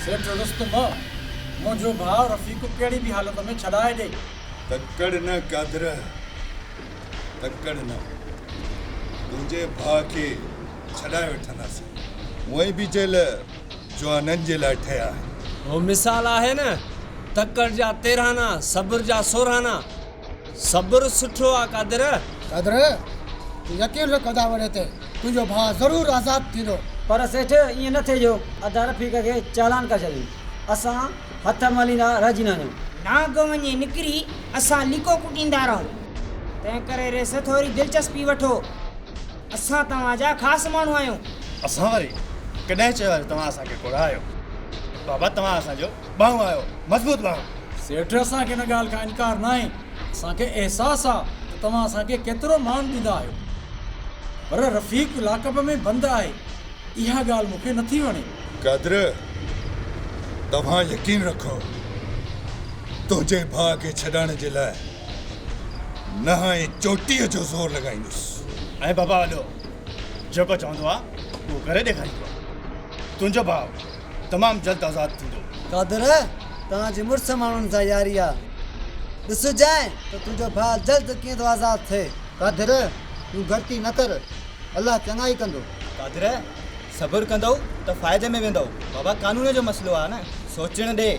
سيٺ رستم، منهنجو ڀاء رفيق ڪهڙي به حالت ۾ ڇڏائي ڏي. تڪڙ نه قادر، تڪڙ نه، تنهنجي ڀاء کي ڇڏائي وٺنداسين. هونئن به جيل جوانن جي لاء ٺهيا آهن. اهو مثال آهي نه، تڪڙ جا تيرهانا، صبر جا سورهانا. صبر سٺو آ قادر. قادر! تون يقين رک ادا وڙي تي تنهنجو ڀاء ضرور آزاد ٿيندو. پر سيٺ ائين نه ٿئي جو ادا رفيق کي چالان ڪري ڇڏين. اسان هٿ مليندا رهجي نه وڃون. نانگ وڃي نڪري اسان ليڪو ڪٽيندا رهون. تنهن ڪري ريس ٿوري دلچسپي وٺو. اسان توهان جا خاص ماڻهو آهيون. اسان وري ڪڏهن چيو آ جو توهان اسان کي ڪوڙا آهيو. بابا توهان اسان جو ٻانهون آيو، مضبوط ٻانهون. سيٺ، اسان کي ان ڳالهه کان انڪار ناهي، اسان کي احساس آ ته توهان اسان کي ڪيترو مان ڏيندا آهيو. پر رفيق لاڪ اپ ۾ بند آهي، اها ڳالهه مون کي نٿي وڻي. قدر، توهان يقين رکو، تنهنجي ڀاء کي ڇڏائڻ جي لاء نه آء چوٽيء جو زور لڳائيندس. ۽ بابا وڏو جيڪو چوندو آ، اهو ڪري ڏيکاريندو آ. تنهنجو ڀاء تمام جلد آزاد ٿيندو. قادر! تنهنجي مڙس ماڻهن سان ياري آ. ڏسجانء ته تنهنجو ڀاء جلد ڪيئن ٿو آزاد ٿئي. قادر! تون گهٽتي نه ڪر. الله چڱائي ڪندو. قادر! صبر ڪندؤ ته فائدي ۾ ويندؤ. بابا قانون جو مسئلو آ نه. سوچڻ ڏي.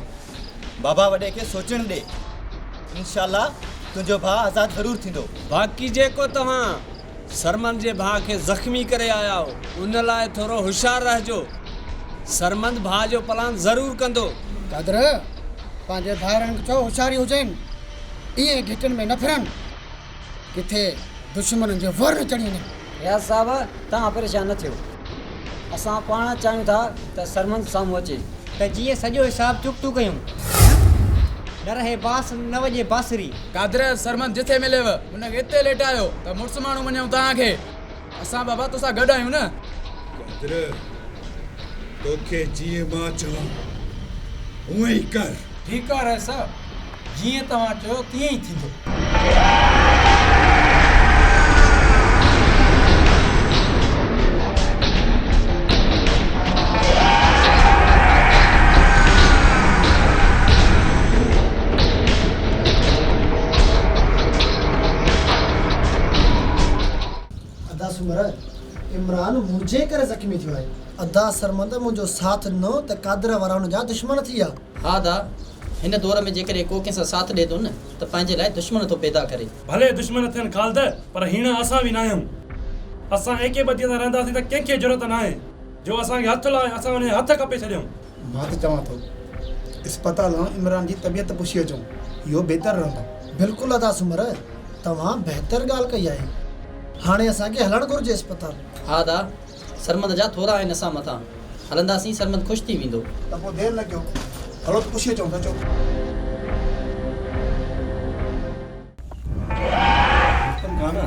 بابا وڏي کي سوچڻ ڏي. انشاء الله تنهنجو ڀاء آزاد ضرور ٿيندو. باقي جيڪو توهان سرمند جي ڀاء کي زخمي ڪري آيا آهو ان لاء ٿورو هوشيار رهجو سرمند ڀاء جو پلان ضرور ڪندو. قدر پنهنجي ڀائرن کي چئو هوشياري هجين ايئن گهٽين ۾ نه ڦرن ڪٿي دشمنن جو وهر نه چڙهي وڃن. رياض صاحب توهان پريشان نه ٿيو اسان پاڻ چاهيون ٿا ته سرمند سامهون اچي ته جيئن سڄو حساب چڪتو ڪيون نه رهي باس نه وڄي بانسري. قدر سرمند جٿي مليو. هن کي اتي ليٽايو ته مڙس ماڻهو مڃيون توهان کي. اسان بابا توسان گڏ آهيون نه. بدر! توکي جيئن مان چوان هونئن ئي ڪر. ٺيڪ آ رئيس صاحب، جيئن توهان چئو تيئن ئي ٿيندو. ادا سومرا عمران منهنجي ڪري زخمي ٿيو آهي. ادا سرمد منهنجو ساٿ ڏنو ته قادر وارا هن جا دشمن ٿي ويا. ها ادا هن دور ۾ جيڪڏهن ڪو ڪنهن سان ساٿ ڏئي ٿو نه ته پنهنجي لاء دشمن ٿو پيدا ڪري. ڀلي دشمن ٿين خالد پر هيڻا اسان به ناهيون. اسان ايڪي ٻڌي سان رهنداسين ته ڪنهن کي جرئت ناهي جو اسان کي هٿ لائي اسان ان جا هٿ ڪپي ڇڏيون. ڀات چوان ٿو اسپتال آڻ عمران جي طبيعت پڇي اچون اهو بهتر رهندو. بلڪل ادا سومر توهان بهتر ڳالهه ڪئي آهي هاڻي اسان کي هلڻ گهرجي اسپتال. ها ادا سرمد جا ٿورا آهن اسان مٿان هلنداسين سرمد خوش ٿي ويندو. ته پوء دير نه ڪيو هلو ته پڇي اچون ته اچو. رستم خان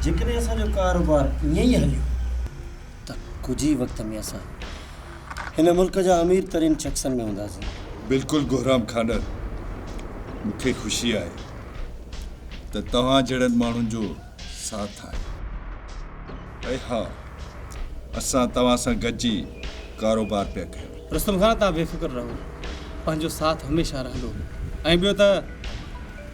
جيڪڏهن اسان جو ڪاروبار ائين ئي هليو ته ڪجهه ئي وقت ۾ اسان هن ملڪ جا امير ترين شخصن ۾ هونداسين. بلڪل گهرام کانئر، مون کي خوشي آهي ته توهان جهڙن ماڻهن جو ساٿ آهي. ۽ ها اسان توهان سان گڏجي ڪاروبار پيا ڪيون. رستم خان توهان بي فڪر رهو پنهنجو ساٿ هميشه رهندو ۽ ٻيو ته.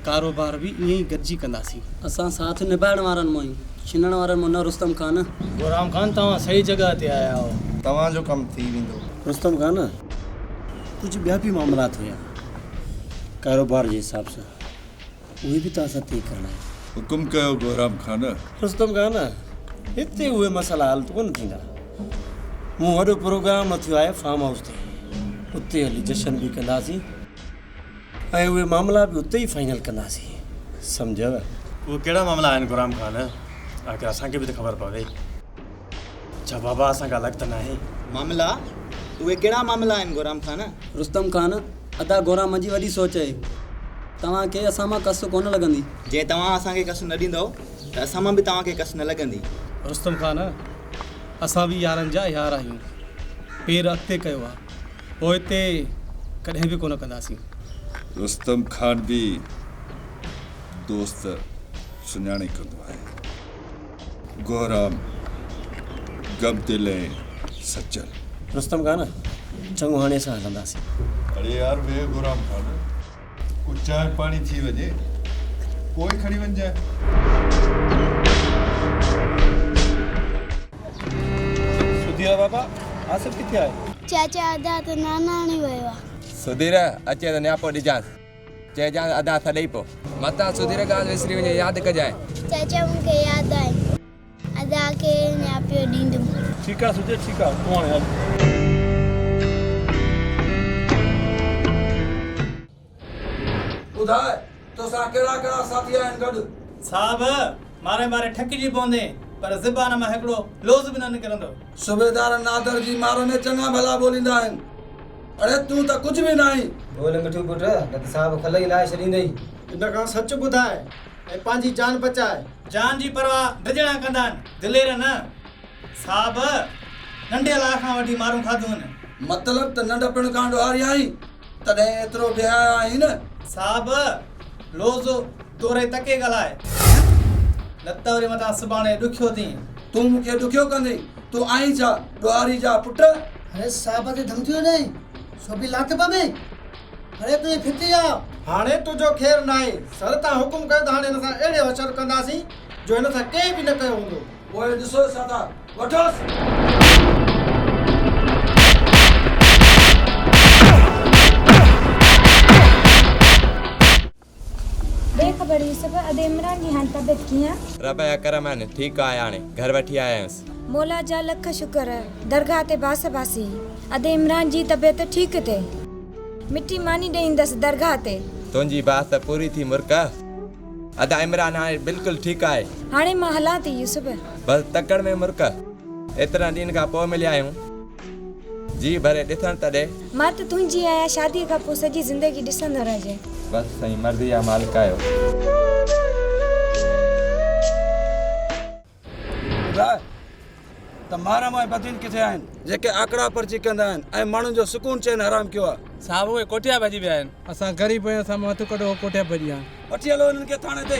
ڪاروبار به ائين ئي گڏجي ڪنداسين. اسان ساٿ نڀائڻ وارن مان آهيون، ڇنڻ وارن مان نه رستم خان. گورام خان توهان صحيح جڳهه تي آيا آهو. توهان جو ڪم ٿي ويندو. رستم خان ڪجهه ٻيا به معاملات هيا ڪاروبار جي حساب سان اهي به توهان سان طئي ڪرڻا آهن. حڪم ڪيو گورام خان. رستم خان هتي اهي مسئلا حل ڪونه ٿيندا. مون وڏو پروگرام رٿيو آهي فارم هائوس تي اتي هلي جشن به ڪنداسين. ۽ اهي معاملا به اتي ئي فائنل ڪنداسين سمجهيو. اهي ڪهڙا معاملا آهن غلام خان؟ آخر اسان کي به ته خبر پوي. ڇا بابا اسان کان الڳ ته ناهي؟ معاملا؟ اهي ڪهڙا معاملا آهن غلام خان؟ رستم خان، ادا غورا منهنجي وڏي سوچ اهي. توهان کي اسان مان ڪس ڪونه لڳندي. جي توهان اسان کي ڪس نه ڏيندؤ ته اسان مان به توهان کي ڪس نه لڳندي. رستم خان، اسان به يارن جا يار آهيون. پير اڳتي ڪيو آ. پوئتي ڪڏهن به ڪونه ڪنداسين. رستم خان به دوست سڃاڻي ڪندو آهي. گهرام غم دل ۽ سچل. رستم خان چڱو هاڻي اسان هلنداسين. اڙي يار ويهه گهرام خان. ڪو چانهه پاڻي ٿي وڃي پوء کڻي وڃجانء. چاچا ادا ته ناناڻي ويو آ. سڌير اچي ته نياپو ڏجانس. چئجانس ادا سڏئي پو. متان سڌير ڳالهه وسري وڃي ياد ڪجانء. چاچا مون کي ياد آهي. ادا کي نياپيو ڏيندم. ٺيڪ آ سجي ٺيڪ آ تون هاڻي هل. ٻڌاء توسان ڪهڙا ڪهڙا ساٿي آهن گڏ. صاحب ماري ماري ٺڪجي پوندين پر زبان مان هڪڙو لوظ به نه نڪرندو. صوبيدار نادر جي مار ۾ چڱا ڀلا ٻوليندا آهن اڙي تون ته ڪجهه به ناهين. ٻول مٺو پٽ نه ته صاحب کلئي لاهي ڇڏيندئي. ان کان سچ ٻڌاء. ۽ پنهنجي جان بچاء. جان جي پرواهه ڊڄڻ آ ڪندا آهن دلير نه صاحب ننڍي لاء کان وٺي مارون کاڌيون آهن. مطلب ته ننڍپڻ کان ڏوهاري آهين تڏهن ايترو بيحياء آهين نه. صاحب لوظ توري تڪي ڳالهاء نه ته وري متان سڀاڻي ڏکيو ٿين. تون مون کي ڏکيو ڪندين تون آهين ڇا ڏوهاري جا پٽ. اري صاحب تي ڌمڪيون ڏئي سو به لاٿيپا ۾. هاڻي تنهنجي ڦٽي آ. هاڻي تنهنجو خير ناهي. سر تان حڪم ڪيو ته هاڻي هن سان اهڙي وڇر ڪنداسين جو هن سان ڪنهن به نه ڪيو هوندو. پوء ڏسو سردار. وٺوس. بي خبر يوسف! ادي عمران جي هاڻ طبيعت ڪيئن؟ رب جا ڪرم آهن، ٺيڪ آهي هاڻي، گهر وٺي آيا آهيونس. مولا جا لک شڪر، درگاهه تي باس باسي، ادي عمران جي طبيعت ٺيڪ ٿئي. مٺي ماني ڏئي ايندس درگاهه تي. تنهنجي باس ته پوري ٿي مرڪ. ادا عمران هاڻي بلڪل ٺيڪ آهي. هاڻي مان هلان ٿي يوسف. بس تڪڙ ۾ مرڪ. ايترن ڏينهن کان پوء مليا آهيون. جي ڀري ڏسڻ تڏي. مرد تون جي آهيان شادي کان پوء سڄي زندگي ڏسندو رهجين. بس سائين مرضي جا مالڪ آهيو. ٻڌاء ته محرم ۽ بدين ڪٿي آهن. جيڪي آڪڙا پرچي ڪندا آهن ۽ ماڻهن جو سڪون چين حرام ڪيو آ. صاحب اهي ڪوٺيا ڀڄي ويا آهن. اسان غريب آهيون اسان مان هٿ ڪڍو اهي ڪوٺيا ڀڄي ويا آهن. وٺي هلو هنن کي ٿاڻي تي.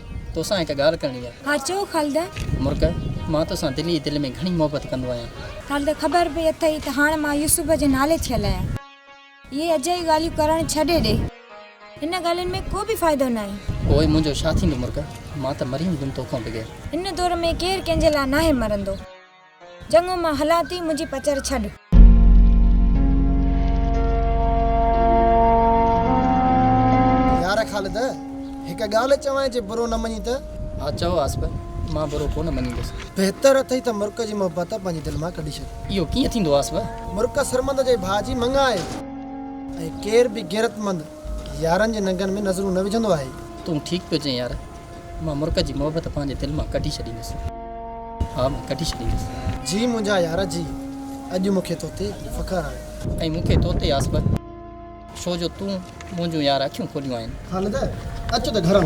توسان هڪ ڳالهه ڪرڻي آهي. ها چئو خالده. مرڪ، مان توسان دل ئي دل ۾ گهڻي محبت ڪندو آهيان. خالده، خبر به اٿئي ته هاڻ مان يوسف جي نالي ٿيل آهيان. اهي اجائي ڳالهيون ڪرڻ ڇڏي ڏي. ان ڳالهين ۾ ڪو به فائدو ناهي. پوء منهنجو ڇا ٿيندو مرڪ؟ مان ته مري ويندم توکان بغير. ان دور ۾ ڪير ڪنهن جي لاء ناهي مرندو. چڱو مان هلان ٿي منهنجي پچر ڇڏ. يار خالد هڪ ڳالهه چوانء جي برو نه مڃين ته. ها چئو آصف مان برو ڪونه مڃيندس. بهتر اٿئي ته مرڪ جي محبت پنهنجي دل مان ڪڍي ڇڏ. اهو ڪيئن ٿيندو آصف. مرڪ سرمد جي ڀاء جي مڱ آهي ۽ ڪير به غيرتمند يارن جي ننگن ۾ نظرون نه وجهندو آهي. تون ٺيڪ پيو چئين يار. مان مرڪ جي محبت پنهنجي دل مان ڪڍي ڇڏيندس. ها مان ڪڍي ڇڏيندس. جي منهنجا يار جي اڄ مون کي توتي فخر آهي. ۽ مون کي توتي آس به. ڇو جو تون منهنجون يار اکيون کوليون آهن. خالده اچ ته گهران.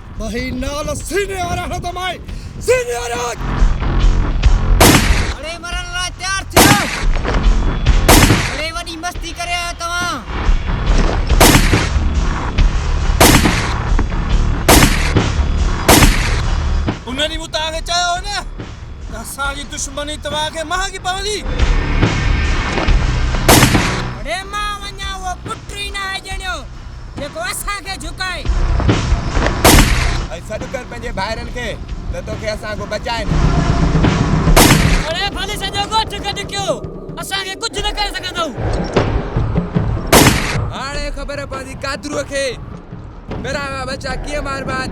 وهي نال سيني وارا هڻ ته مائي سيني وارا اڙي مرڻ لاء تيار ٿيو اڙي وڏي مستي ڪري آيا توهان ان ڏينهن مون توهان کي چيو هو نه ته اسان جي دشمني توهان کي مهانگي پوندي اڙي مان وڃان اهو پٽ ئي ناهي ڄڻيو جيڪو اسان کي جهڪائي. ۽ سڏ ڪر پنهنجي ڀائرن کي ته توکي اسان کان بچائين. اڙي ڀلي سڄو ڳوٺ گڏ ڪيو، اسان کي ڪجهه نه ڪري سگهندؤ. هاڻي خبر پوندي قادرو کي، پرائوا ٻچا ڪيئن ماربا آهن.